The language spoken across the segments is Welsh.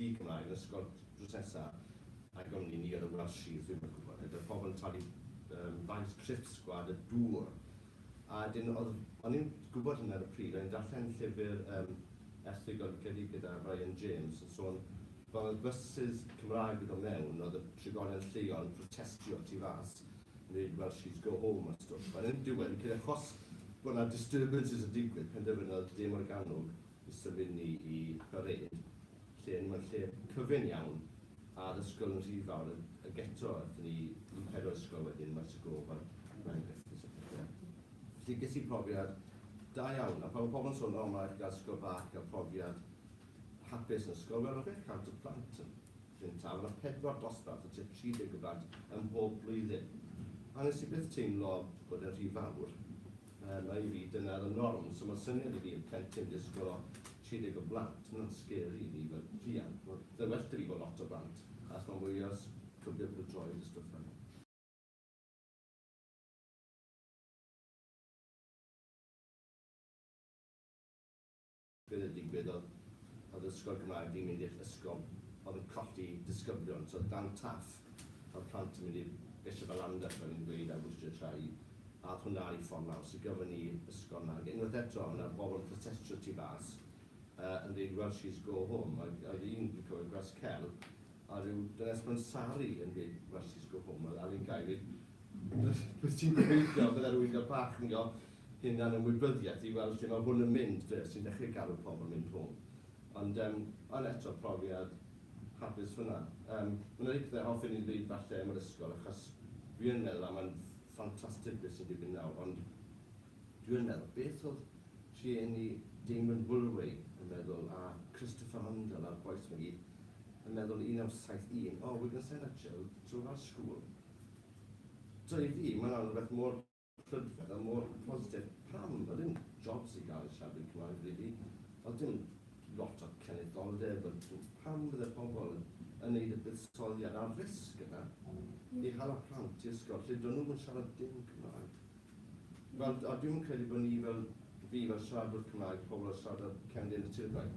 di Cymraeg yn ysgol drwsesa a gawn ni ni ar y Welsh Shields, ddim yn gwybod. Ydy'r pobl yn talu um, faint trip sgwad y dŵr. A dyn, o'n i'n gwybod hynny ar y pryd, o'n i'n darllen llyfr um, erthygl gyda Ryan James yn sôn Fel y byses Cymraeg yn dod mewn, oedd y trigolion lleol yn protestio tu fas, yn dweud 'Welsh kids go home' a stwff. Ond yn y diwedd, fi'n credu achos bod 'na disturbances yn digwydd, penderfynodd De Morgannwg i symud ni i Parade, lle o'n i mewn lle cyfyng iawn, a'r ysgol yn rhy fawr, ag eto aethon ni i pedwar ysgol wedyn, Maes y Gof a Mangyllyn a phethe. Felly ges i profiad da iawn, a pan mae pobl yn sôn 'O, mae raid i chi gael ysgol bach i gael profiad', Hapus yn ysgol mewn chwe chant o blant yn Llyn Taf, yna pedwar dosbarth o tua 30 o blant ym mhob blwyddyn. A wnes i byth teimlo bod e'n rhy fawr. Yym, a i fi, dyna oedd y norm. So mae'n syniad i fi y plentyn disgwyl o 30 o blant, mae hwnna'n scary i fi fel rhiant. Wel, byddai'n well 'da fi bod lot o blant, achos mae'n mwy o s- cyfle bod y droed a stwff fel 'na. Be oedd yn digwydd oedd, oedd yr ysgol Gymraeg fi'n mynd i'r ysgol oedd yn colli disgyblion, so oedd gan Taff oedd plant yn mynd i'r Bishop a Llandaf fel o'n i'n gweud ar Worcestershire Trae, a oedd hwnna ar ei ffordd lawr, so gafon ni ysgol 'na. Ac unwaith eto oedd 'na bobl yn protestio tu fas yy yn deud Welshies go home, ac oedd un fi'n cofio Gwres Cel, a ryw dynes mewn sari yn gweud Welshies go home, oedd Alun Guy yn gweud byddet ti'n gobeithio bydde rywun fel Bach yn go hunan ymwybyddiaeth i weld lle mae hwn yn mynd de, sy'n dechrau galw pobl mynd home. Ond yym ond eto profiad hapus hwnna. Yym ma' 'na rywbeth a hoffen i ddeud falle am yr ysgol achos dwi yn meddwl a ma'n ffantastig beth sy'n digwydd nawr ond dwi yn meddwl beth oedd rhieni Damon Woolway yn meddwl a Christopher Hundall a'r bois 'ma i gyd yn meddwl 1971 oh we're gonna send our children to our school. T'o' i fi ma' hwnna'n rwbeth mor prydferth a mor positif. Pam? Wel dim jobs i gael i siarad Cymraeg rili, ond dim lot o cenedloldeb, ond pam fydde pobl yn neud y buddsoddiad a'r risg yna i hala plant i ysgol lle dyn nhw'm yn siarad dim Cymraeg? Wel, a dwi'm yn credu bod ni fel fi fel siaradwr Cymraeg, pobl o siarad cefndir y tirfau,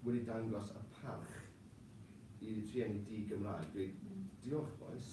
wedi dangos y parch i rhieni di-Gymraeg. Dweud, diolch bois,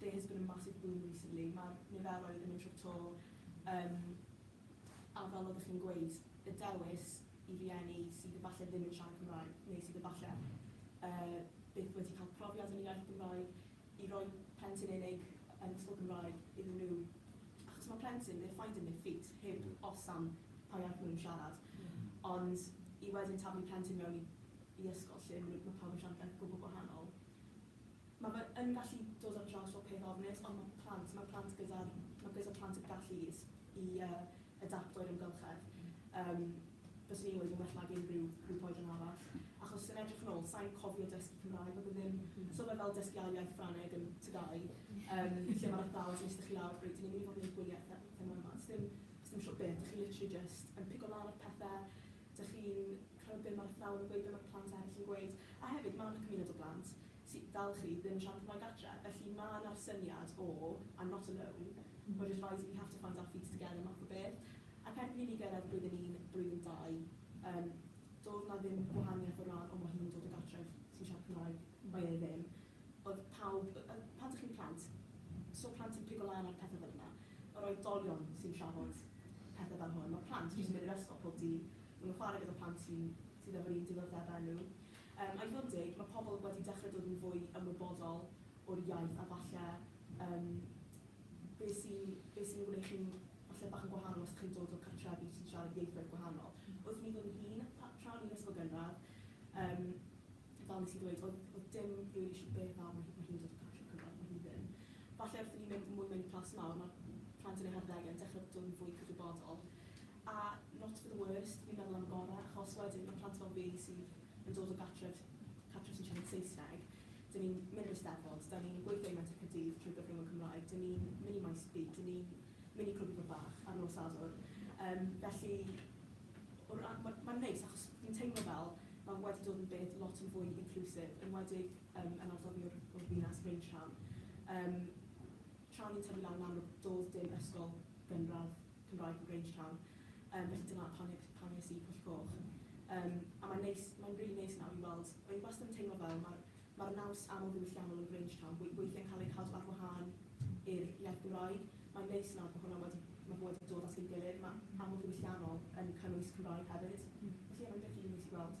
There has been a massive boom recently, mae'r niferoedd yn mynd trwy'r to yym a fel oeddech chi'n gweud, y dewis i rieni sydd efallai ddim yn siarad Cymraeg neu sydd efallai yy byth wedi cael profiad yn y iaith Gymraeg, i roi plentyn unig yn ysgol Gymraeg iddyn nhw, achos mae plentyn, they're finding their feet, heb os am pa iaith maen nhw'n siarad, ond i wedyn taflu plentyn mewn i i ysgol lle ma' nhw, ma' pawb yn siarad iaith gwbl gwahanol. Mae fe yn gallu dod ar draws fel peth ofnus ond mae plant, mae plant gyda'r, mae gyda plant y gallu is i yy adapto i'r amgylchedd. Yym byswn i'n gweud yn well nag unrhyw grŵp oedran arall. Achos yn edrych yn ôl, sa i'n cofio dysgu Cymraeg ac oedd ddim, so mae fel dysgu ail iaith Ffrangeg yn tŷ dau yym lle mae'r athrawes yn iste chi lawr ac reit dan ni'n mynd i fod yn neud gwyliau a phe- pethau fel 'na. Does dim, does dim siŵr beth, dach chi literally jyst yn pigo lan ar pethe, dach chi'n clywed be' ma'r athrawon yn gweud, be' ma'r plant eryll yn gweud. A hefyd ma' 'na cymuned o blant Ti, dal chi, ddim siarad Cymraeg adre, felly ma' 'na'r syniad o I'm not alone, we're just rising, we have to find our feet together math o beth. Ac erbyn i ni gyrraedd blwyddyn un, blwyddyn dau, yym, doedd 'na ddim gwahaniaeth o ran o ma' hi'n dod o gartref sy'n siarad Cymraeg, mae e ddim. Oedd pawb, yy yy pan dych chi'n plant, so plant yn pigo lan ar pethe fel yna. Yr oedolion sy'n trafod pethe fel hwn. Ma' plant jyst yn mynd i'r ysgol pob dydd, ma' nhw'n chwarae gyda plant sy'n sydd efo'r un diddordebau â nhw. Yym, I fod yn deg, mae pobl wedi dechrau dod yn fwy ymwybodol o'r iaith a falle yym be sy'n be sy'n gwneud chi'n falle bach yn gwahanol os chi'n dod o cartrefi sy'n siarad ieithoedd gwahanol. Wrth mi fod yn hŷn, pa- tra o'n i'n ysgol gynradd, yym fel nes i ddweud, oedd oedd dim rili siŵr beth a ma' hi ma' hi'n dod o cartref cynradd, ma' hi ddim. Falle wrth i ni mynd mwy mewn i plas mawr, ma' plant yn eu harddegau yn dechrau dod yn fwy cydwybodol. A not for the worst, fi'n meddwl am y gorau, achos wedyn mae plant fel fi sydd yn dod o gartref cartref sy'n siarad Saesneg, dyn ni'n mynd i'r Eisteddfod, dan ni'n gweithio i Menter Caerdydd trwy gyfrwng y Cymraeg, dyn ni'n mynd i Maes B, dyn ni'n mynd i Clwb Ifor Bach ar nos Sadwrn. Yym, felly, o ra- ma- mae'n neis, achos fi'n teimlo fel mae wedi dod yn beth lot yn fwy inclusive, enwedig yym yn ardal fi o'r o'r ddinas, Bryn Siân. Yym, tra o'n i'n tyfu lan yn Amlwch, doedd dim ysgol gynradd. Cymraeg yn Grange Town yym felly dyna pam nes pam nes i Pwll Goch yym a mae'n neis mae'n rili neis nawr i weld o'n i wastad yn teimlo fel ma'r ma'r naws amlddiwylliannol yn Grange Town we- weithiau'n cael ei cadw ar wahân i'r iaith Gymraeg mae'n neis nawr bod hwnna wedi ma' fo wedi dod at ei gilydd ma' amlddiwylliannol yn cynnwys Cymraeg hefyd felly ie mae'n rili neis i weld.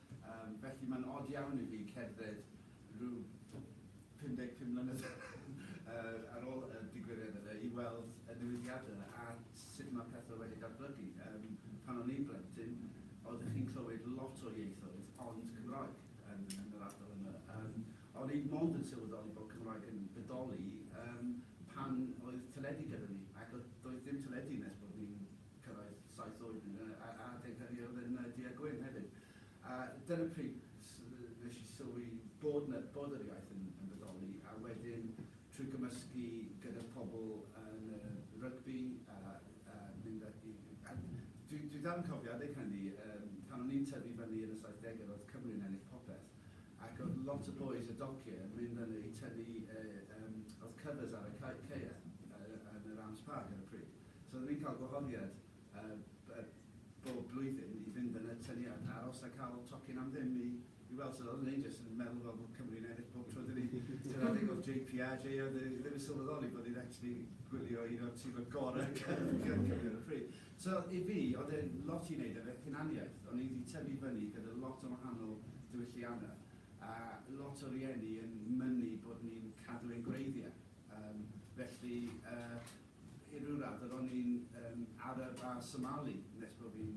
Yym, felly mae'n od iawn i fi cerdded rhyw 55 mlynedd yy ar ôl y digwyddiad yna i weld y newidiadau a sut mae pethau wedi datblygu. Yym, pan o'n i'n blentyn, oeddech chi'n clywed lot o ieithoedd ond Cymraeg yn yn yr ardal yma. Yym, o'n i mond yn sylweddoli bod Cymraeg yn bodoli yym pan oedd teledu gyda ni ac oedd doedd dim teledu nes bod ni'n cyrraedd saith oed yn y a- adeg hynny oedd yn y du a gwyn hefyd. A dyna pryd s- nes i sylwi bod 'na, bod yr iaith yn yn bodoli a wedyn trwy gymysgu gyda pobl yn y rygbi a a mynd a i a dwi dwi dal yn cofio adeg hynny yym pan o'n i'n tyfu fyny yn y saithdege roedd Cymru'n ennill popeth ac oedd lot o bois o docie yn mynd fyny i tynnu yy yym oedd covers ar y ca- caeau yy yn yr Arms Park ar y pryd. So rydyn ni'n cael gwahoddiad bob blwyddyn i fynd yn y tyniad, aros a cael tocyn am ddim i i weld sut oedd Rangers yn meddwl fel bod Cymru'n ennill bob tro dyn ni sy'n adeg o'r JPA, JA oedd e ddim yn sylweddoli bod ni'n actually gwylio un o'r tîm y gorau Cymru ar y pryd. So i fi, oedd e'n lot i wneud efe hunaniaeth, o'n i wedi tyfu fyny gyda lot o wahanol diwylliannau a lot o rieni yn mynnu bod ni'n cadw ein gwreiddiau. Um, felly, uh, I ryw raddau, ro'n i'n yym Arab a Somali nes bo fi'n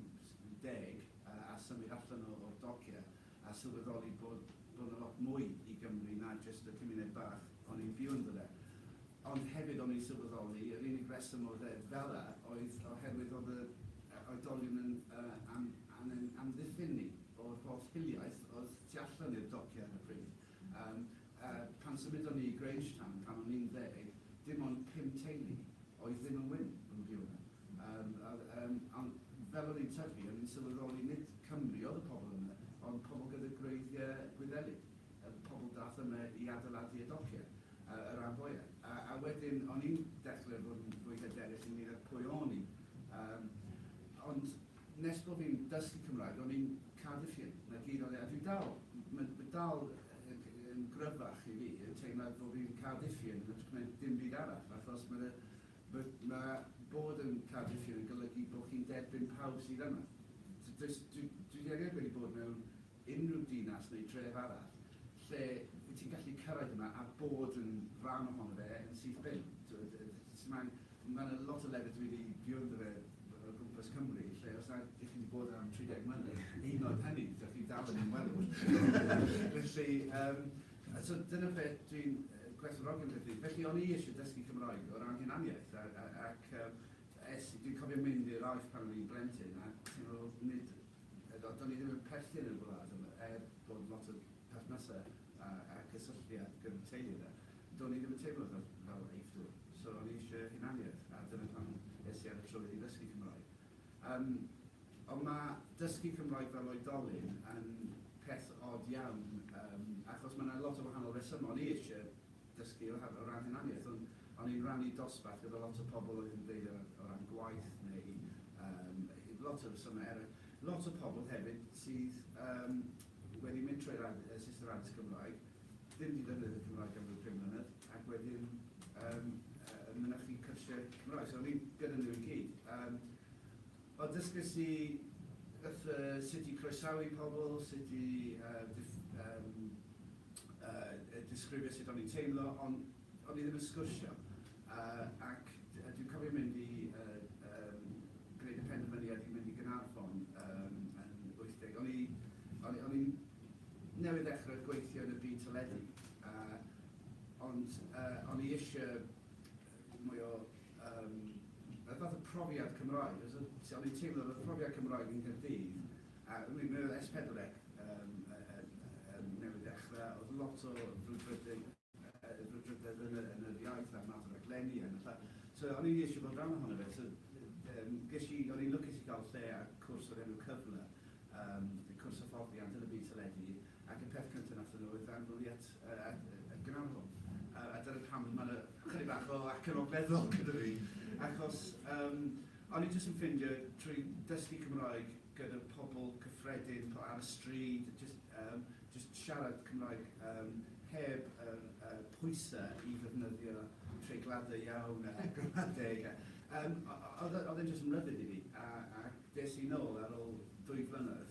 deg a a symud allan o o'r docia a sylweddoli bod bod 'na lot mwy i Gymru na jyst y cymuned bach o'n i'n byw ynddo fe. Ond hefyd o'n i'n sylweddoli yr unig reswm o ddeud fela oedd oherwydd o'dd yr yy oedolion yn yy am am ein amddiffyn ni o'r holl hiliaeth o'dd tu allan i'r docia ar y pryd. Yym. A pan symudon ni i Grangetown pan o'n i'n ddeg, dim ond pum teulu oedd ddim yn wyn yn Wdiona. Yym a yym ond fel o'n i'n tyfu o'n i'n sylweddoli nid Cymry oedd y pobl yma ond pobl gyda gwreiddia Gwyddelig. Y pobl dath yma i adeiladu y docie yy y ran fwya. A a wedyn o'n i'n dechre fod yn fwy hyderus ynglŷn â pwy o'n i. Yym ond Nes bo fi'n dysgu Cymraeg ro'n i'n cadw llun na gyd o le a dwi dal, ma' ma' dal yn gryfach i fi y teimlad bo fi'n cadw llun yn ytrach na dim byd arall achos ma' dy- ma' ma' bod yn cadw llun yn golygu bo chi'n derbyn pawb sydd yma. T- does dwi dwi erioed wedi bod mewn unrhyw dinas neu dref arall lle wyt ti'n gallu cyrraedd yma a bod yn rhan ohono fe yn syth bin. T'wod, yy sydd angen, ma' 'na lot o lefydd dwi 'di byw ynddo fe o gwmpas Cymru lle os nad 'ych chi 'di bod yna am 30 mlynedd, hyd yn oed hynny, dach chi dal yn ymwelwr. Felly, yym, a so dyna beth dwi'n yy gwerthfawrogi am Gaerdydd. Felly, o'n i isie dysgu Cymraeg o ran hunaniaeth a a ac yym es i, dwi'n cofio mynd i'r Allt pan o'n i'n blentyn a ti'n meddwl, nid Eto, do'n i ddim yn perthyn i'r wlad yma, er bod lot o perthnasau a a gysylltiad gyda'r teulu 'na, do'n i ddim yn teimlo fel fel Eifftwr. So o'n i eisiau hunaniaeth, a dyna pam es i ar y trywydd i ddysgu Cymraeg. Yym, ond ma' dysgu Cymraeg fel oedolyn yn peth od iawn, yym, achos ma' 'na lot o wahanol resymau. O'n i eisiau dysgu o ran, o ran hunaniaeth, ond o'n i'n rannu dosbarth gyda lot o pobl oedd yn dweud o, o ran gwaith neu um, lot o resymau eraill. Lot o pobl hefyd sydd um, wedi mynd trwy'r ad, uh, system addysg Gymraeg, ddim wedi defnyddio Cymraeg am ryw 5 mlynedd, ac wedyn um, uh, mynychu cyrsiau Cymraeg. So o'n i'n gyda nhw i gyd. Um, Mae dysgais i wrth yy sut i croesawu pobl, sut i yy dif- yym yy disgrifio sut o'n i'n teimlo, ond o'n i ddim yn sgwrsio. Yy ac d- dwi'n cofio mynd i yy yym gwneud y penderfyniad i mynd i Gaernarfon yym yn wyth deg. O'n i o'n i o'n i'n newydd ddechrau gweithio yn y byd teledu yy ond yy o'n i isie mwy o um, y fath o profiad Cymraeg, os ti o'n i'n teimlo fod profiad Cymraeg yn Gyrdydd, a mi oedd S4C um, um, newydd dechrau, oedd lot o brwdfrydedd brwdfrydedd yn, yn yr iaith a'r math o raglenni yn y So o'n i'n eisiau bod rhan ohono fe, so um, ges i, o'n i'n lwcus i gael lle a cwrs o'r enw cyfle, um, cwrs hyfforddiant yn y byd teledu, Ac y peth cynta nathon nhw oedd ddarnlunio at y ganolfan. A dyna pam ma' 'na chydig bach o acen ogleddol gyda fi, achos o'n i jyst yn ffindio trwy dysgu Cymraeg gyda pobl cyffredin ar y stryd, jyst siarad Cymraeg heb yr pwyse i ddefnyddio treigladau iawn a gramadeg a o'dd e'n jyst yn rybudd i fi a des i nôl ar ôl dwy flynedd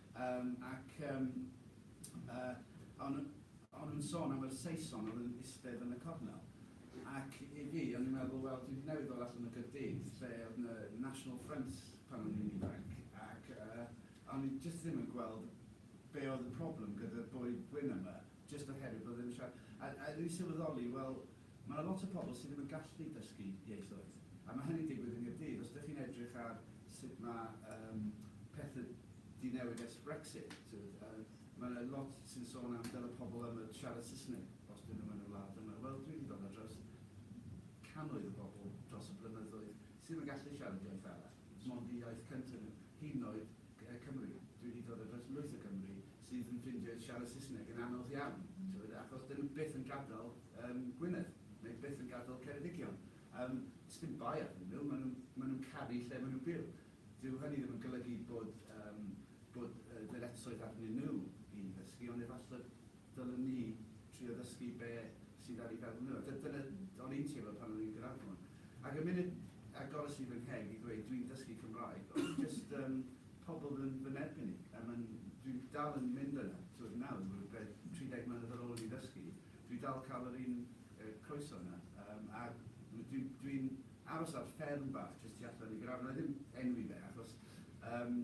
Yym, ac yym, yy, o'n nhw, o'n nhw'n sôn am yr Saeson oedd yn istedd yn y cornel. Ac i fi, o'n i'n meddwl, wel, dwi newydd ddod allan o Gaerdydd, lle oedd yna National Front pan o'n i'n ifanc, ac yy, o'n i jyst ddim yn gweld be oedd y problem gyda'r boi gwyn yma, jyst oherwydd bod e ddim yn siarad. A, a o'n i'n sylweddoli, wel, Mae 'na lot o pobl sydd ddim yn gallu dysgu ieithoedd, a mae hynny'n digwydd yng Nghaerdydd. Os ydych chi'n edrych ar sut mae yym pethe 'di newid ers Brexit, tibod, yym mae 'na lot sy'n sôn am dyle pobl yma siarad Saesneg os 'dyn nhw yn y wlad yma. Wel, dwi 'di gweld ar draws cannoedd o bobl dros y blynyddoedd sy' ddim yn gallu siarad iaith arall, 'mond eu iaith cynta' nhw, hyd yn oed Ger Cymru. Dwi wedi dod o dros lwyth o Gymry sydd yn ffrindiau sydd siarad Saesneg yn anodd iawn, t'mod, achos 'dyn nhw byth yn gadael yym Gwynedd, neu byth yn gadael Ceredigion. Yym, sdim bai arnyn nhw, maen nhw'n maen nhw'n caru lle maen nhw'n byw. Dyw hynny ddim yn golygu bod yym bod yy ddyletswydd arnyn nhw i ddysgu, ond efallai Dylen ni trio dysgu be sydd ar ei feddwl nhw. D- dyna o'n i'n teimlo pan o'n i'n Gaernarfon. Ac y munud agores i fy ngheg i ddweud dwi'n dysgu Cymraeg, oedd jyst yym pobl yn fy nerbyn i. A ma'n... dwi'n dal yn mynd yna, t'wod nawr, rywbeth 30 mlynedd ar ôl i fi ddysgu, dwi dal cael yr un yy croeso yna. Yym a dwi dwi'n aros ar fferm bach jyst tu allan i Gaernarfon, wna i ddim enwi fe achos yym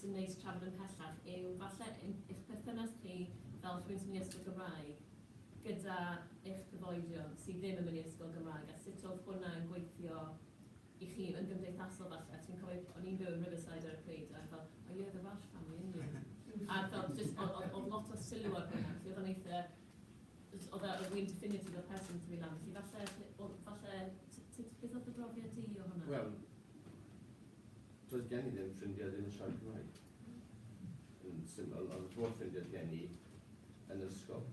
sy'n neis trafod ymhellach yw falle eich perthynas chi fel rhywun sy'n mynd i ysgol Gymraeg gyda eich cyfoedion sydd ddim yn mynd i ysgol Gymraeg a sut oedd hwnna yn gweithio i chi yn gymdeithasol falle ti'n cofio o'n i'n byw yn Riverside ar y pryd a fel oh yeah the Welsh family yn you a fel just oedd oedd oedd lot o sylw ar hwnna felly oedd o'n eitha oedd oedd oedd wy'n definitive o'r person sy'n mynd am felly falle oedd falle beth oedd dy brofiad di o hwnna? Wel Doedd gen i ddim ffrindiau ddim yn siarad Cymraeg. Yn syml, ond y holl ffrindiau gen i yn yr ysgol.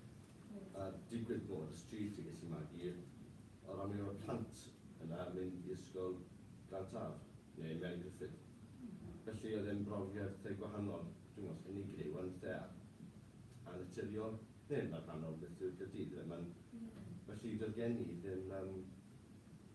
A digwydd bod y stryd yn gallu magu, o ran mi oedd y plant yna yn mynd i ysgol Glawdd Taf, neu Mary Griffith. Felly oedd e'n brofiad eitha' gwahanol, dwi'm os unigryw, ond eitha' annaturiol, neu yn barhaol beth yw'r Gaerdydd yfe? Ma'n... Felly doedd gen i ddim yym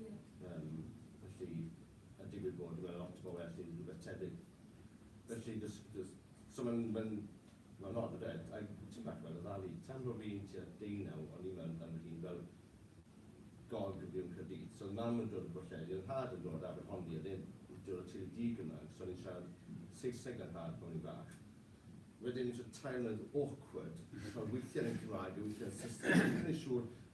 Ie. Yym, felly, a digwydd bod, mae lot o bobl yn gallu rhywbeth tebyg. Felly, jys, jys, so mae'n, mae'n, mae'n od, ynde? A tipyn bach fel oddali, tan ro'n i'n tua deunaw, o'n i mewn am fy hun fel gog yn byw yn Caerdydd. So oedd mam yn dod o Bwllheli, oedd nhad yn dod o Aberhonddu, oedd e'n dod o teulu di-Gymraeg, so o'n i'n siarad Saesneg â nhad pan o'n i'n fach. Wedyn, tua tair mlynedd, awkward, i fod yn cael weithiau yn Cymraeg a weithiau yn Saesneg, o'n i ddim yn rili siŵr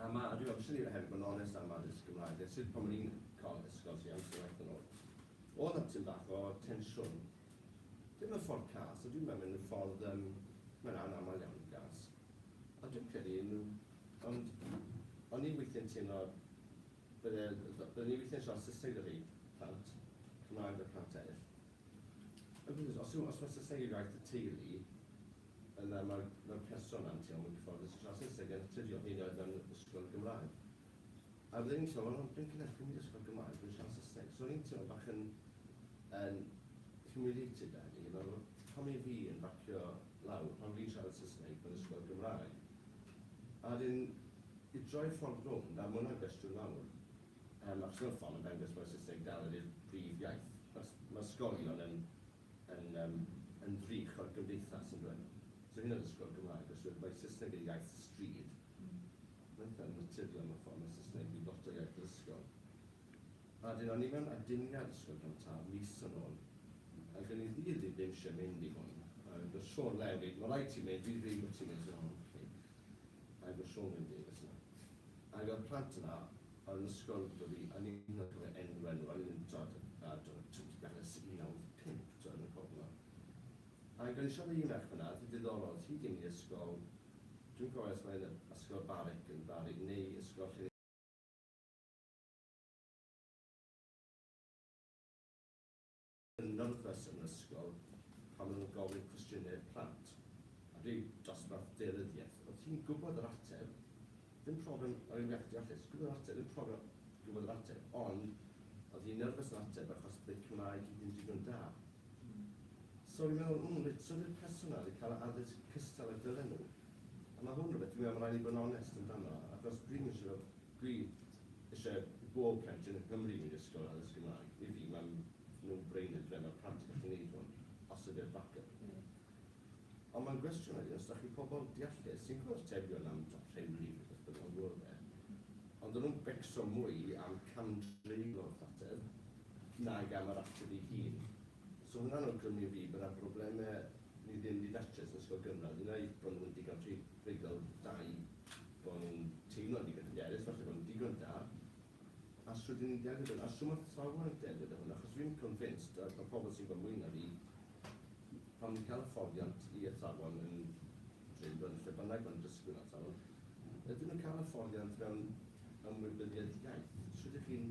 A ma', a dwi me'wl, swn i hefyd bod yn onest am addysg Gymraeg, a sut pan o'n i'n cael ysgol tua amser waith yn ôl, o'dd 'na tym bach o tensiwn. Dim mewn ffordd cas, ond dwi'n me'wl mewn ffordd yym, mae'n anamal iawn yn gas. A dwi'n credu yn, ond o'n i weithie'n teimlo bydde, bydden ni weithie'n siarad Saesneg 'da rhei plant, Cymraeg 'da plant eryll. Os yw, os fase Saesneg iaith y teulu, yna mae'r, mae'r person yna yn teimlo mwy cyfforddus yn siarad Saesneg yn naturiol, hyd yn oed mewn ysgol yn Gymraeg. A fydden i'n teimlo, wel, dwi'n cynhyrchu mynd i ysgol Gymraeg, dwi'n siarad Saesneg. So o'n i'n teimlo bach yn, yn humiliated da ni, fel, pam mae fi yn bacio lawr, pam fi'n siarad Saesneg mewn ysgol Gymraeg? A wedyn, i droi ffordd rownd, a ma' hwnna'n gwestiwn mawr, Mae'r Sylfon yn dangos bod Saesneg dal wedi'r brif iaith. Mae ysgolion yn yn yym yn frych o'r gymdeithas yndyw e? So hyd yn oed ysgol Gymraeg os yw e mae Saesneg yn iaith y stryd mae'n eitha' naturiol mewn ffordd mae Saesneg wedi lot o iaith yr ysgol. A 'dyn o'n i mewn aduniad ysgol Glan Taf mis yn ôl ac o'n i ddydd fi ddim isie mynd i hwn ac o'dd Siôn mewn a gweud ma' raid ti mynd dwi ddim isio ti mynd so o'n i 'ok'. Mae fy Siôn yn Davies yna. Ac oedd plant yna ar yn ysgol gyda fi a ni hyd yn oed cofio enw enw fel yn undod a do twt i beth ers 1995 t'o yn y cofno. Ac o'n i siarad i un merch fanna oedd hi'n ddiddorol oedd hi gyn i ysgol dwi'n cofio os mae'n ysgol Barwick yn Bari neu ysgol lle yn nyrfys yn yr ysgol pan maen nhw'n gofyn cwestiynau i'r plant, a rhyw dosbarth deunyddiaeth. Oeddet ti'n gwybod yr ateb, ddim problem o'r enghraifft deallus, ti'n gwybod yr ateb, ddim problem gwybod yr ateb, ond oedd hi'n nyrfys yn ateb achos bydd Cymraeg hi ddim digon da. So fi'n meddwl, mm, reit, so dy'r person yna wedi cael yr addysg cystal a dylen nhw. A mae hwn rhywbeth, dwi'n meddwl, mae rhaid i bod yn onest amdano, achos dwi'n mynd siŵr Dwi isie i bob plentyn yng Nghymru mynd i ysgol a ddysgu Cymraeg. I fi mae'n no brainer ble mae'r plant yn gallu neud hwn, os ydi'r backup. Ond mae'n gwestiwn wedyn os dach chi pobl deallus sy'n gwbod atebion am top ten brif neu beth bynnag o'r we, ond o'n nhw'n becso mwy am cam-drin o'r ateb nag am yr ateb ei hun. So hwnna'n awgrymu i fi bod 'na brobleme ni ddim 'di datrys yn ysgol gynradd, un ai bo' nhw'n digon priodol, dau, bo' nhw'n teimlo'n ddigon hyderus, falle bo' nhw'n digon da, a shwt 'yn ni'n delio 'da nhw, a shwt ma' athrawon yn delio 'da hwnna, achos fi'n convinced, a ma' pobl sy'n gwbod mwy na fi, pan fi'n cael hyfforddiant i athrawon yn Drindod, yn lle bynnag ma'n dysgwyr athrawon, ydyn nhw'n cael hyfforddiant mewn ymwybyddiaeth iaith? Shwt 'ych chi'n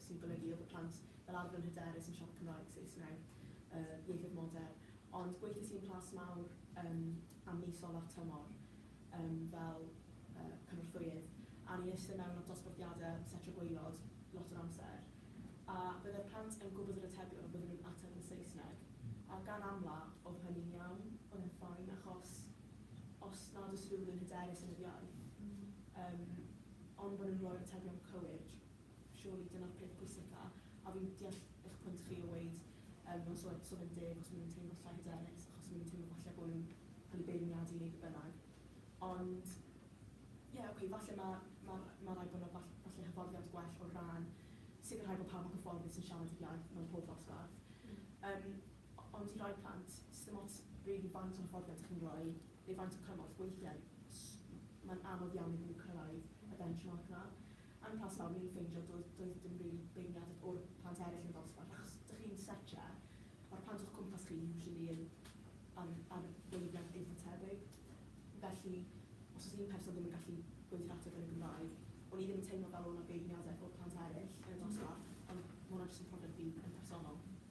sy'n golygu oedd y plant fel arfer yn hyderus yn siarad Cymraeg, Saesneg, y ieithoedd modern, ond gweithiais i yn Plas Mawr yym am mis olaf tymor yym fel yy cynorthwyydd, a o'n i'n iste mewn at dosbarthiadau setio gwaelod lot o'r amser, a bydde'r plant yn gwybod yr atebion ond bydden nhw'n ateb yn Saesneg, a gan amla oedd hynny'n iawn, oedd e'n fine, achos os nad oes rhywun yn hyderus yn yr iaith, yym ond bod nhw'n rhoi'r atebion cywir. Surely dyna'r peth pwysica, a fi'n deall eich pwynt chi o weud yym mewn so so fe'n deg os ma' nhw'n teimlo llai hyderus achos ma' nhw'n teimlo falle bo' nhw'n cael eu beirniadu neu be bynnag. Ond ie ok falle ma' ma' ma' raid bo' 'na fall- falle hyfforddiant gwell o ran sicrhau bo' pawb yn gyfforddus yn siarad yr iaith mewn pob dosbarth. Yym o- ond i rai plant, sdim ots rili faint o hyfforddiant 'ych chi'n roi neu faint o cymorth, weithiau s- m- mae'n anodd iawn iddyn nhw cyrraedd y benchmark 'na. Yn y plas fawr, o'n i'n ffeindio doedd doedd dim rili beirniadu o'r plant eraill yn y dosbarth, achos dych chi'n setio, mae'r plant o'ch cwmpas chi usually yn ar ar wavelength eitha' tebyg. Felly, os oes un person ddim yn gallu gweud yr ateb yn y Gymraeg, o'n i ddim yn teimlo fel o' 'na beirniadaeth o'r plant eraill yn y dosbarth, ond ma' hwnna jyst yn profiad fi yn personol.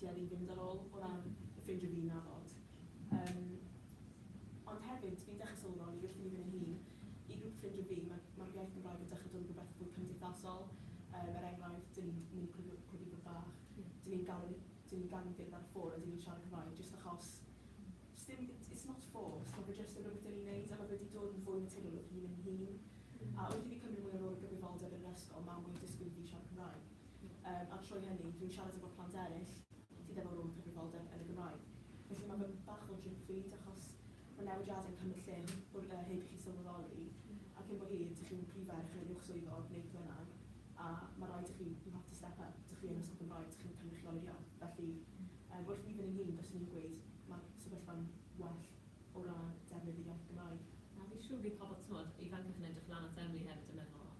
tuedd i fynd ar ôl o ran ffeindio fi na ddod. Yym ond hefyd fi'n dechrau sylweddoli fi allu mynd yn ei hun. I grŵp ffrindiau fi ma' ma'r iaith Gymraeg yn dechrau dod yn rhywbeth fwy cymdeithasol yym er enghraifft 'dyn ni'n mynd i cwrdd i cwrdd i grŵp fach 'dyn ni'n gadael i 'dyn ni'n gadael i gerdded ar y ffôn a 'dyn ni'n siarad Cymraeg jyst achos sdim it it's not forced ma' fe jyst yn rhywbeth 'dyn ni'n neud a ma' fe 'di dod yn fwy naturiol wrth i fi mynd yn hŷn. A wrth i fi cymryd mwy o rôl a gyfrifoldeb yn yr ysgol ma' mwy o disgwyl i fi siarad Cymraeg. Yym, a'r tro hynny, dwi'n siarad efo plant eraill sydd efo rôl cyfrifoldeb yn y Gymraeg. Felly mae fy bach o drip feed achos mae newidiadau'n cymryd lle wr- yy heb i chi sylweddoli, a cyn bo hir, dych chi'n prif ferch neu uwch swyddog neu beth bynnag, a mae raid i chi, you have to step up, dych chi yn Ysgol Gymraeg, dych chi'n cynrychiolio. Felly, yym, wrth fi fy nyn hun, fyswn i'n gweud mae'r sefyllfa'n well o ran defnydd yr iaith Gymraeg. Na, fi'n siŵr bydd pobl, t'mod, ifancach yn edrych lan at Emily hefyd yn meddwl,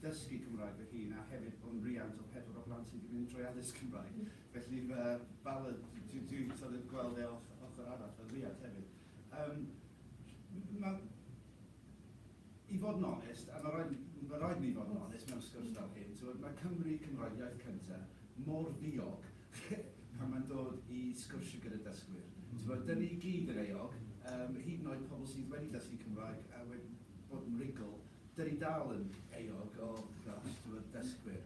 ddysgu Cymraeg fy hun a hefyd bod yn riant o pedwar o blant sydd wedi mynd trwy addysg Cymraeg felly fy bala dwi dwi sort of gweld e off ochr arall fel riant hefyd yym ma' i fod yn onest a ma' raid ma' raid ni fod yn onest mewn sgwrs fel hyn t'mod ma' Cymry Cymraeg iaith cynta mor ddiog pan ma'n dod i sgwrsio gyda dysgwyr t'mod 'dyn ni gyd yn euog yym hyd yn oed pobl sydd wedi dysgu Cymraeg a wed- Bob mrigl, dyn ni dal yn euog o dros dro dysgwyr.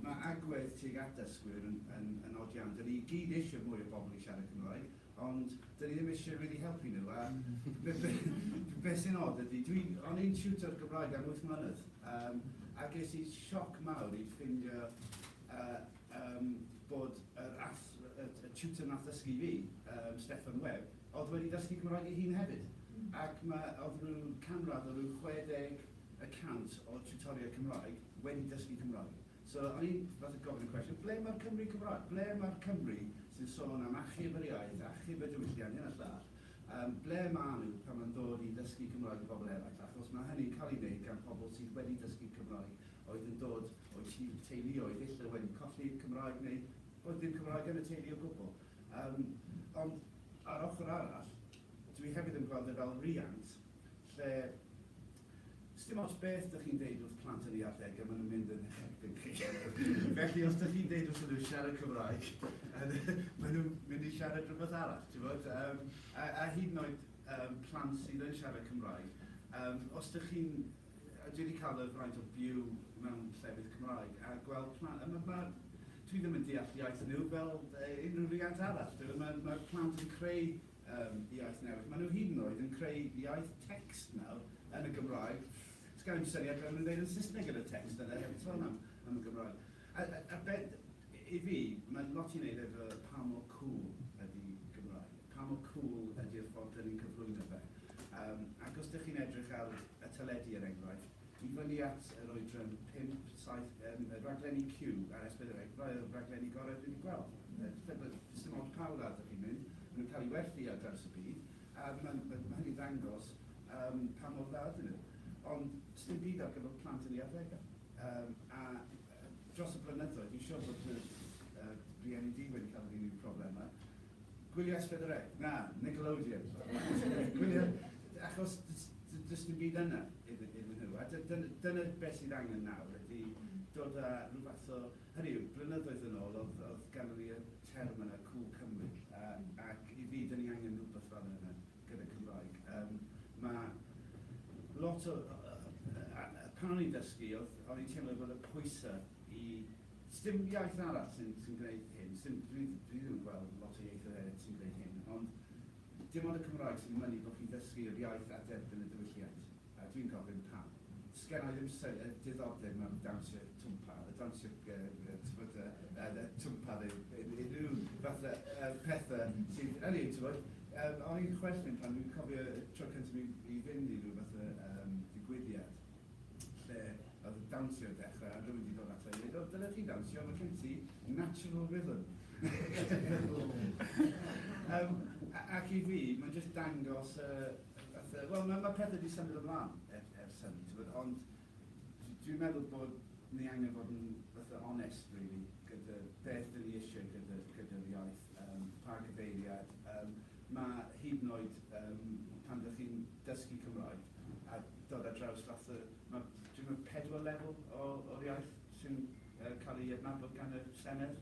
Mae agwedd tuag at dysgwyr yn yn yn od iawn. Dyn ni i gyd eisiau mwy o bobl i siarad Cymraeg, ond dyn ni ddim eisiau rili helpu nhw. A be be be sy'n od ydy, dwi o'n i'n tiwtor Gymraeg am wyth mlynedd, yym a ges i sioc mawr i ffindio yy yym bod yr ath- y y tiwtor wnaeth ddysgu i fi, yym Steffan Webb, Oedd wedi dysgu Cymraeg ei hun hefyd, ac mae oedd rhyw canradd o rhyw 60 y cant o tiwtoriaid Cymraeg wedi dysgu Cymraeg. So o'n i'n fatha gofyn y cwestiwn, ble mae'r Cymry Cymraeg? Ble mae'r Cymry sy'n sôn am achub yr iaith, achub y diwylliant, hyn a llall, yym, ble maen nhw pan mae'n dod i ddysgu Cymraeg i bobl eraill, achos mae hynny'n cael ei wneud gan pobl sydd wedi dysgu Cymraeg oedd yn dod o'u teuluoedd ille wedi colli Cymraeg neu oedd dim Cymraeg yn y teulu o gwbl. Yym, ond ar ochr arall, dwi hefyd yn gweld e fel riant lle, sdim ots beth dych chi'n deud wrth plant yn eu arddegau, maen nhw'n mynd yn eich erbyn chi. Felly, os dych chi'n deud wrthyn nhw siarad Cymraeg, maen nhw'n mynd i siarad rhywbeth arall, tibod. Yym, a, a hyd yn oed yym plant sydd yn siarad Cymraeg, yym, os dych chi'n Dwi wedi cael y fraint o byw mewn llefydd Cymraeg a gweld pla- a ma' ma' dwi ddim yn deall iaith nhw fel yy unrhyw riant arall. Dw- ma' ma'r plant yn creu yym iaith newydd. Ma' nhw hyd yn oed yn creu iaith text nawr yn y Gymraeg. Does gen i ddim syniad beth ma' nhw'n ddeud yn Saesneg yn y text yna heb sôn am am y Gymraeg. A a a be- i fi, mae'n lot i wneud efo pa mor cŵl ydy Gymraeg. Pa mor cŵl ydi'r ffordd dyn ni'n cyflwyno fe? Yym, ac os dych chi'n edrych ar y teledu, er enghraifft, i fyny at yr oedran pump, saith, yym, y rhaglenni Q ar S4C er enghraifft, rhai o'r rhaglenni gorau dwi wedi gweld. Yy, tybed, sdim ots pa wlad dych chi'n mynd, maen nhw'n cael eu werthu ar draws y byd, a ma', ma', ma' hynny'n dangos, yym, pa mor dda ydyn nhw. Ond, sdim byd ar gyfer plant yn ei arddegau. Yym, a, yy, dros y blynyddoedd, fi'n siŵr bod fy, yy, rhieni di wedi cael yr un problemau. Gwylio'r Spedre? Na, Nickelodeon. Gwylio, achos does dim byd yna iddyn nhw. A dyna beth sydd angen nawr ydy dod â rhyw fath o... Hynny yw, blynyddoedd yn ôl oedd ganddo ni y term yna, Cŵl Cymru. Ac i fi, dyn ni angen rhywbeth fel yna gyda Cymraeg. Mae lot o... Pan o'n i'n dysgu, o'n i'n teimlo bod y pwysau i Sdim iaith arall sy'n sy'n gwneud hyn, sdim, dwi dwi ddim yn gweld lot o ieithoedd eraill sy'n gwneud hyn, ond dim ond y Cymraeg sy'n mynnu bod chi'n dysgu yr iaith a derbyn y diwylliant, a dwi'n gofyn pam? Sgennai ddim sy- yy diddordeb mewn dawnsio twmpa, y dawnsio g- yy yy t'mod yy yy yy twmpa neu un- unrhyw fath o yy pethe sydd, ynny yw, t'mod, yym o'n i'n chwerthin pan dwi'n cofio y tro cynta' fi i fynd i ryw fath o yym digwyddiad, lle oedd y dawnsio yn dechrau, a rhywun wedi dod ato i ddweud, o, dyle ti dawnsio, mae gen ti natural rhythm. um, ac i fi, mae'n just dangos, uh, wel, mae ma pethau wedi symud ymlaen er, ers hynny, ti'n bod, ond dwi'n meddwl bod ni angen bod yn fatha onest, really, gyda beth dyn ni eisiau gyda, gyda iaith, um, pa gyfeiriad. Um, mae hyd yn oed um, pan ydych chi'n dysgu Cymraeg a dod ar draws fath o, ma', dwi meddwl, pedwar lefel o o'r iaith sy'n yy cael ei adnabod gan y Senedd.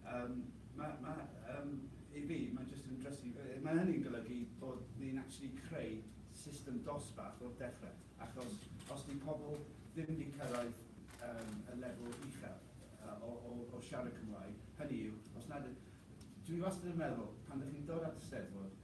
Yym ma' ma' yym i fi ma' jyst yn drysu. Yy ma' hynny'n golygu bod ni'n actually creu system dosbarth o'r dechre, achos os 'di pobl ddim wedi cyrraedd yym y lefel uchel yy o o o siarad Cymraeg, hynny yw, os nad y-... Dwi wastad yn meddwl, pan 'dych chi'n dod at y Steddfod,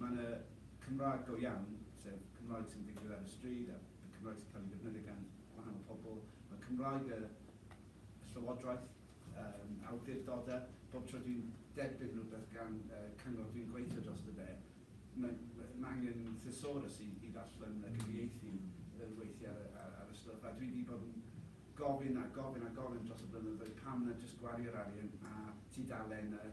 Mae yna Cymraeg go iawn, sef Cymraeg sy'n digwydd ar y stryd a Cymraeg sy'n cael ei ddefnyddio gan gwahanol pobl. Mae Cymraeg y Llywodraeth, yym, awdurdodau, bob tro dwi'n derbyn rhywbeth gan yy cyngor dwi'n gweithio drosto fe, mae mae angen thesaurus i i ddarllen a cyfieithu yy weithiau ar y ar y stwff, a dwi 'di bod yn gofyn a gofyn a gofyn dros y blynyddoedd pam na jyst gwario'r arian a tudalen y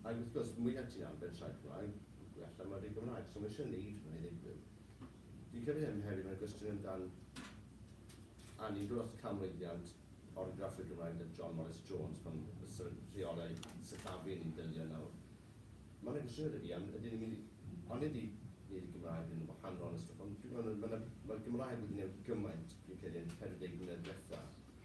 Ac wrth gwrs, mwy na ti am ben traed Cymraeg, mwy allan mae'r byd Gymraeg, so mae eisiau neud hwnna i ddigwydd. Fi'n credu hyn hefyd, mae'n gwestiwn amdan anni gwrth canmlwyddiant orgraff y Gymraeg da John Morris Jones pan fysa rheolau sillafu ni'n delio nawr. Mae yna gwestiwn gyda fi am, ydyn ni'n mynd i, onid i neud y Gymraeg yn wahanol a stwff, ond dwi'n gweld, mae yna, mae'r Gymraeg wedi newid gymaint, fi'n credu, yn 40 mlynedd diwetha,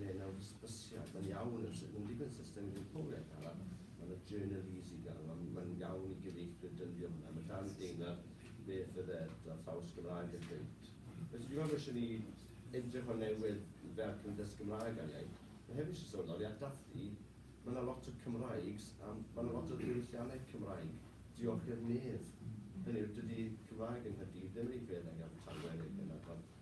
neu mewn hysbysiad, mae'n iawn yn sut mae'n digwydd system i ddiwpoliaeth arall, mae yna journalese i gael, mae'n mae iawn i gyfeithwyr dyndio hwnna, mae dan deimlad beth y ddeddf a thraws Gymraeg yn dweud. Felly dwi'n meddwl eisiau ni edrych o newydd fel Cymdeithas Gymraeg ar iaith. Mae hefyd eisiau sôn ar Dathi, mae yna lot o Cymraegs a mae yna lot o ddiwylliannau Cymraeg diolch i'r medd. Hynny yw, dydy Cymraeg yng Nghaerdydd ddim yn ei fedd ag Abertawe neu Penarth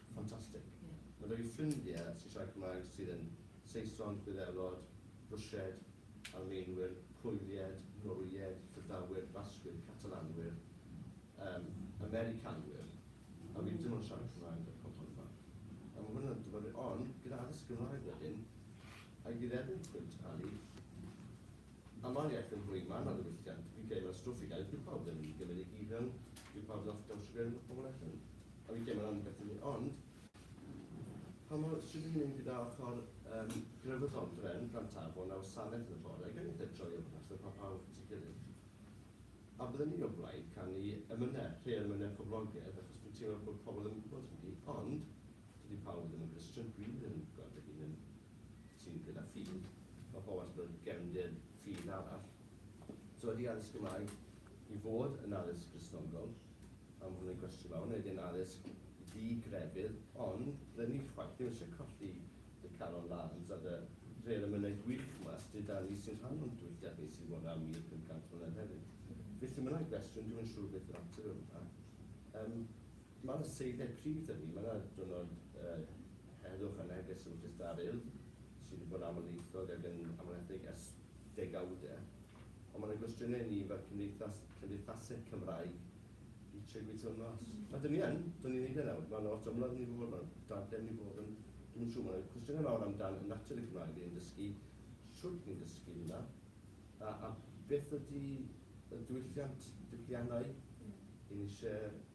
Ffantastig. Mae 'da fi ffrindiau sy'n siarad Cymraeg sydd yn Saeson, Gwyddelod, Rwsied, Almaenwyr, Pwylied, Norwyeg, Prydawyr, Basgwyr, Catalanwyr, um, Americanwyr, a fi'n dim ond siarad Cymraeg ar pobl yma. A mae hwnna'n dyfodol, ond gyda addysg Gymraeg wedyn, a i ddiddefnydd pwynt Ali, Amheuaeth yn fwy manwl y gwylltiant yw gemau stwff i gael eich gwybod yn gymryd eich hufen i'w ffordd off dawnsio gryn o hwn allan. A fi gemau am beth hynny ond pa mor sydyn yw hyn gyda ochr um, grefyddol bren brantafon a wasanaeth yn y bore gan eitha troi o gwmpas fel pa pawb at ei gilydd. A bydden ni o blaid canu emynau, rhei emynau poblogaidd achos fi'n teimlo bod pobl ddim yn gwybod hynny ond dydy pawb ddim yn Gristion dwi ddim yn gweld fy hun yn sydd gyda ffydd, mae pobl wastad yn gefndir ffydd arall. So ydy addysg Gymraeg i fod yn addysg Gristnogol? A mae hwn yn gwestiwn mawr. Neu ydy e'n addysg ddi-grefydd? Ond rydyn ni chwaith ddim eisiau colli dy calon lân tra dy dref emynau gwych yma sy gyda ni sy'n rhan o'n diwylliant ni sydd fod am 1,500 mlynedd hefyd. Felly mae yna gwestiwn, dwi'm yn siŵr beth yw'r ateb i hwnna. Yym. Mae'r seithau prif da ni, mae 'na diwrnod heddwch a neges yn cystadlu, sydd wedi bod yn amlieithog ac yn amlinelledig ers degawde, ond mae 'na gwestiynau i ni fel cymdeithas, cymdeithaseg Cymraeg, i trio gweithio hwn mas. A dan ni yn, dan ni'n neud e nawr, mae 'na lot o ymladd yn ei fod, mae 'na darllen yn ei fod, ond dwi'm yn siŵr, mae 'na cwestiynau mawr am dan natur y Gymraeg ni'n dysgu, shwt ni'n dysgu hwnna, a a beth ydi y diwylliant, diwylliannau, 'yn ni isie,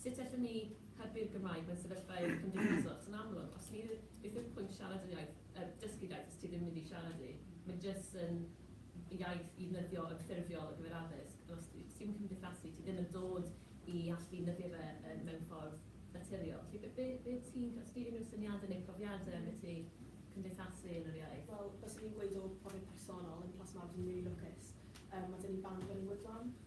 Sut allwn ni hybu'r Gymraeg mewn sefyllfaoedd cymdeithasol, achos yn amlwg, os ni, beth yw'r pwynt siarad yr iaith, er, dysgu'r iaith os ti ddim yn mynd i siarad hi, mae jyst yn iaith i ddefnyddio yn ffurfiol ar gyfer addysg, ond os ti ddim yn cymdeithasu, ti ddim yn dod i allu defnyddio fe yn, mewn ffordd naturiol. Felly, be, be, be ti'n, os di unrhyw syniadau neu profiadau am be ti cymdeithasu yn yr iaith? Wel, byswn i'n gweud o profiad personol, yn Plas Mawr dw i'n rili lwcus, yym, ma' 'da ni band Wynn Woodland,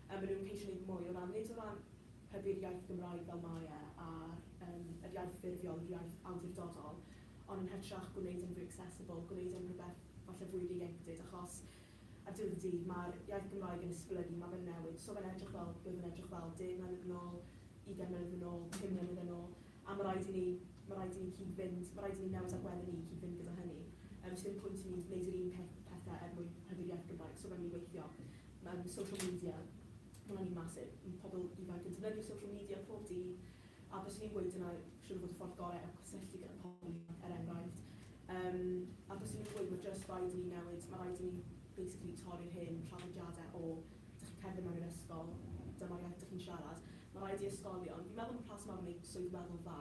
Yy maen nhw'n ceisio neud mwy o ran, nid o ran hybu'r iaith Gymraeg fel mae e, a'r yym yr iaith ffurfiol, yr iaith awdurdodol, ond yn hytrach gwneud e'n fwy accessible, gwneud e'n rhywbeth falle fwy ieuenctid, achos ar diwedd y dydd ma'r iaith Gymraeg yn esblygu, ma' fe'n newid, so fe'n edrych fel, be' oedd e'n edrych fel deg mlynedd yn ôl, ugain mlynedd yn ôl, pum mlynedd yn ôl, A ma' raid i ni, ma' raid i ni cyd-fynd, ma' raid i ni newid agwedde ni i cyd-fynd gyda hynny. Yym, does dim pwynt i ni wneud yr un peth, pethe er mwyn hybu'r iaith Gymraeg. So, ma' ni weithio mewn social media, ma' hwnna'n un massive. Mae pobl ifanc yn defnyddio social media pob dydd, a byswn i'n gweud dyna siŵr o fod y ffordd gorau o cysylltu gyda pobl ifanc, er enghraifft. Yym, a byswn i'n gweud, ma' jyst raid i ni newid, ma' raid i ni basically torri'r hen traddodiadau o Dych chi'n cerdded mewn i'r ysgol, dyma'r iaith dych chi'n siarad. Mae'n rhaid i ysgolion, fi'n meddwl am y rheswm pam mae swydd weddol dda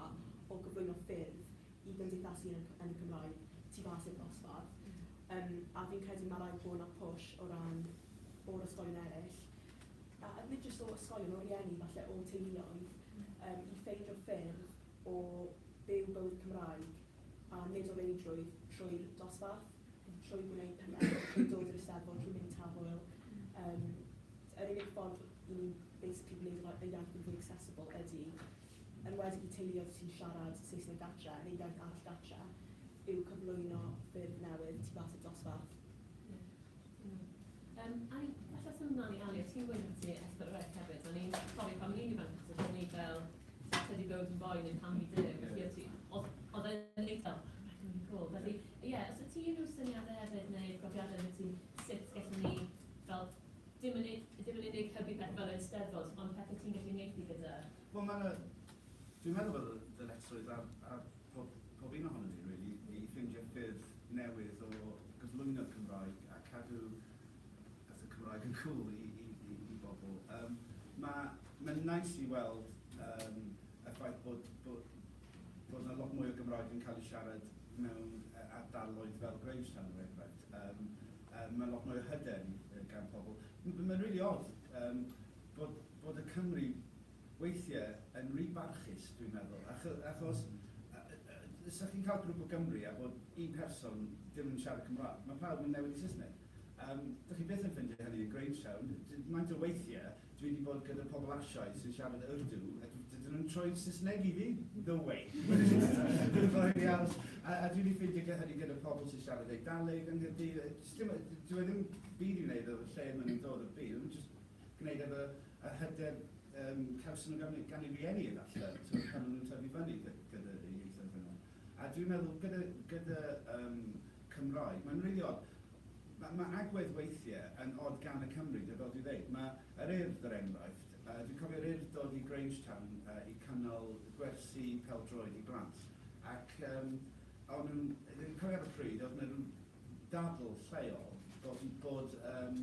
o gyflwyno ffyrdd i gymdeithasu yn y yn y Cymraeg tu fas i'r dosbarth. Yym a fi'n credu mae'n rhaid bod 'na push o ran o'r ysgolion eraill, a nid jyst o ysgolion, o rieni falle, o teuluoedd, yym i ffeindio ffyrdd o byw bywyd Cymraeg. a nid o reidrwydd trwy'r dosbarth, ond trwy gwneud pethau i dod i'r Eisteddfod, trwy mynd i Taf Hwyl. Um, yr unig ffordd i ni basically gwneud yr iaith yn fwy accessible ydy, yn wedi i teuluoedd sy'n siarad Saesneg gatre neu iaith arall gatre, yw cyflwyno ffyrdd newydd tu fas i'r dosbarth. Iawn. Yym, a i, falle symud mlaen i Ali, a ti'n gweud ti Esther y Rec hefyd, o'n i'n cofio pan o'n i'n ifanc, achos o'n ni fel, sut ydi bywyd yn boen yn pan ni dim, felly o ti, oedd e'n eitha, felly, ie, yeah, os o ti unrhyw syniadau hefyd neu profiadau o ti, sut gallwn ni, fel, dim yn unig, dim yn unig hybu pethau fel yr Eisteddfod, ond pethau ti'n gallu neud i gyda Wel mae 'na... Dwi'n meddwl bod y ddyletswydd ar ar pob pob un ohonon ni rili i ffeindio ffyrdd newydd o gyflwyno'r Cymraeg a cadw fatha Cymraeg yn cŵl i i i i bobl. Yym ma' ma'n neis i weld yym y ffaith bod bo' bod 'na lot mwy o Gymraeg yn cael ei siarad mewn yy ardaloedd fel Grahamstown er enghraifft. Yym yy ma' lot mwy o hyder i yy gan pobl. M- ma'n rili od yym bod, bod y Cymry weithiau yn rhy barchus, dwi'n meddwl, achos, os ydych chi'n cael grwp o Gymry a bod un person ddim yn siarad Cymraeg, mae pawb yn newid i Saesneg. Um, dych chi byth yn ffeindio hynny yn Grangestown. Maent o weithiau, dwi wedi bod gyda pobl Asiaidd sy'n siarad Urdu, a dydyn nhw'n troi Saesneg i fi? No way! Dwi'n rhaid i aros. A, a dwi wedi ffeindio hynny gyda pobl sy'n siarad Eidaleg yng Nghyrdydd. Dwi e ddim byd i wneud o'r lle maen nhw'n dod o'r byd, gwneud efo yr hyder yym cawson nhw gan gan eu rhieni efallai t'mod pan o'n nhw'n tyfu fyny gy- gyda y ieithoedd hynny. A dwi'n meddwl gyda gyda yym Cymraeg mae'n rili od ma' ma' agwedd weithie yn od gan y Cymry de fel dwi'n ddeud ma' yr Urdd er enghraifft yy dwi'n cofio'r Urdd dod i Grangetown yy i cynnal gwersi pêl-droed i blant ac yym o'n nhw'n yy dwi'n cofio ar y pryd o'dd 'na ryw ddadl lleol bod bod yym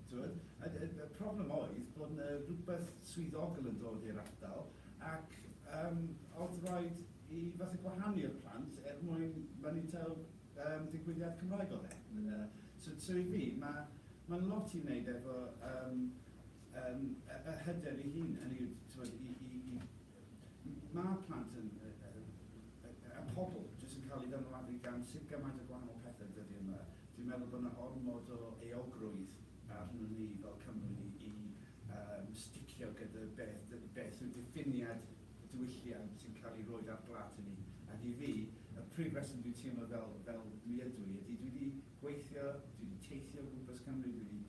Y problem oedd bod 'na rywbeth swyddogol yn dod i'r ardal ac oedd raid i fatha gwahanu'r plant er mwyn mynita digwyddiad Cymraeg oedd e. So i fi mae'n lot i wneud efo yr hyder ei hun, hynny yw i Mae plant yn, y, y, y, y pobl, jyst yn cael ei ddylanwadu gan sut gymaint o gwahanol pethau yn dydy yma. Dwi'n meddwl bod yna ormod o eogrwydd arnyn ni fel Cymru i um, sticio gyda beth, beth yw diffiniad y diwylliant sy'n cael ei roed ar blat i ni. Ac i fi, y prif reswm dwi'n teimlo fel, fel dwi ydw i ydy dwi wedi gweithio, dwi wedi teithio o gwmpas Cymru, dwi wedi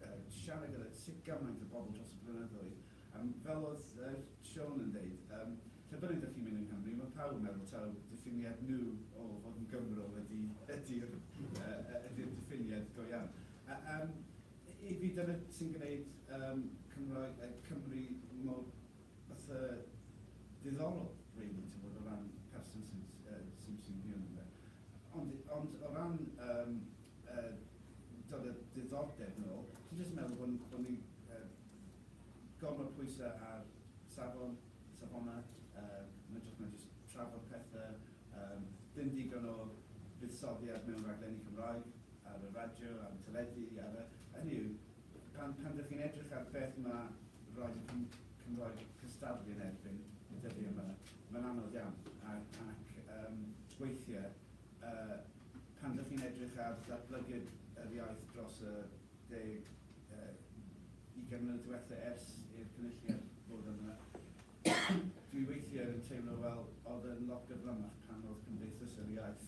uh, siarad gyda sut gymaint o bobl dros y blynyddoedd Yym, fel oedd yy Siôn yn deud, yym, lle bynnag dych chi'n mynd yng Nghymru, mae pawb yn meddwl taw diffiniad nhw o fod yn Gymro ydy, ydy'r yy yy ydy'r diffiniad go iawn. A yym, i fi, dyna sy'n gwneud yym Cymraeg yy Cymru mor fatha diddorol, rili, tibod, o ran y person sy'n yy sy'n sy'n byw ynddo fe. Ond ond o ran yym yy dod â diddordeb nôl, dwi jyst yn meddwl bod bod ni yy Gormod pwysa ar safon, safona, yn hytrach na jyst trafod pethe. Dim digon o fuddsoddiad mewn rhaglenni Cymraeg ar y radio, ar y teledu, ar y. Hynny yw, pan pan dych chi'n edrych ar beth ma' radio Cym Cymraeg cystadlu yn erbyn y dyddia ma, ma'n anodd iawn. A ac yym weithie yy pan dych chi'n edrych ar ddatblygiad yr iaith dros y deg yy 20 mlynedd diwetha ers i'r cynulliad ddod yma, dwi weithiau yn teimlo fel oedd yn lot gyflymach pan oedd Cymdeithas yr Iaith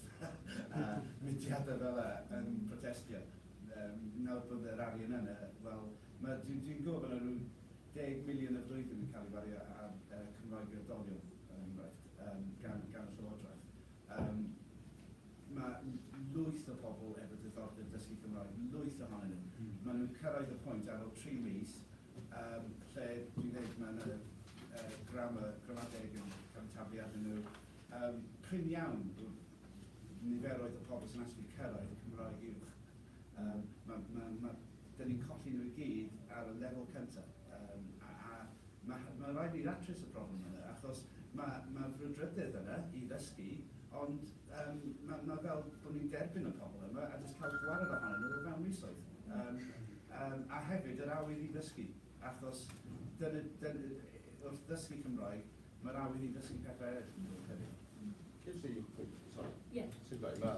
a mudiadau fel yna yn protestio. Yym, nawr bod yr arian yna, wel, ma', dwi, dwi'n gwybod bod yna rhyw deg miliwn y flwyddyn yn cael ei wario ar yy Cymraeg i oedolion, er enghraifft, yym, gan, gan y Llywodraeth. Yym. Mae lwyth o bobl efo diddordeb dysgu Cymraeg, lwyth ohonyn nhw. Maen nhw'n cyrraedd y pwynt ar ol tri mis yym lle dwi'n dweud mae 'na yy grammar, gramadeg yn cael eu taflu arnyn nhw. Yym prin iawn yw niferoedd y pobl sy'n actually cyrraedd y Cymraeg uwch. Yym ma' ma' ma' 'da ni'n colli nhw i gyd ar y lefel cyntaf. Yym, a, a, ma', ma' raid ni ddatrys y problem yna, achos ma', ma' frwdfrydydd yna i ddysgu, ond, yym, ma', ma' fel bod ni'n derbyn y pobl yma a jyst cael gwared ohonyn nhw o fewn misoedd. Yym, yym, a hefyd yr awydd i ddysgu, achos dyna, dyna, wrth ddysgu Cymraeg, mae'r awydd i ddysgu pethau eraill yn dod hefyd. Ges i, sori. Ie. Sut bai, ma',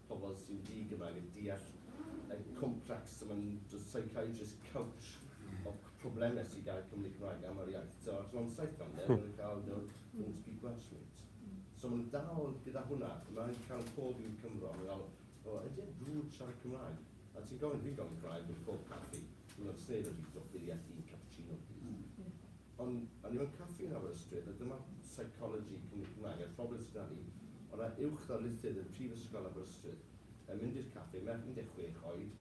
pobl sy'n di-Gymraeg yn deall y complex a maen nhw'n dod psychiatrist couch o problemau sydd gael Cymru Cymraeg am yr iaith. So, achos mae'n saith fan maen nhw'n cael no, don't speak Welsh mate. So maen nhw'n dal gyda hwnna, mae'n cael pob un Cymro, mae'n cael, o, ydy e'n drwg siarad Cymraeg? A ti'n gofyn, fi'n gofyn Cymraeg yn pob caffi, dwi'n meddwl, sneb yn rhywbeth o ffili at un cappuccino, please. Ond o'n i mewn caffi yn Aberystwyth a dyma Psychology Cymru Cymraeg a'r ffoadfwyr sy 'da ni, o ran uwch ddarlithydd yn Prifysgol Aberystwyth, yn mynd i'r caffi, merch 16 oed,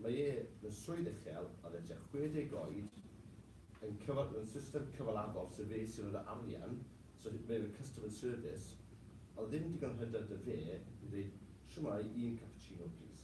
mae e mewn swydd uchel, oedd e tua 60 oed, yn cyfan- mewn system cyfalafol, so fe sy'n rhoid yr arian, so fe oedd y customer service, oedd ddim digon o hyder 'da fe i ddeud, shwmae, un cappuccino plîs.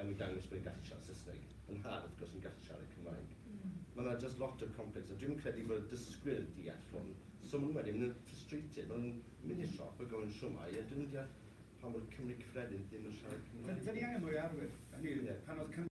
Ewn ni dangos bod yn gallu siarad Saesneg yn rhad, wrth gwrs, yn gallu siarad Cymraeg. Mae yna just lot of complex, a dwi'm yn credu bod y dysgwyr deall hwn. So maen nhw wedyn yn frustrated, maen nhw'n mynd i'r siop a gofyn shwmae, a dyn nhw'n deall pam bod Cymry cyffredin ddim yn siarad Cymraeg. Dyn ni angen mwy o arwyr, hynny yw pan oedd Cymru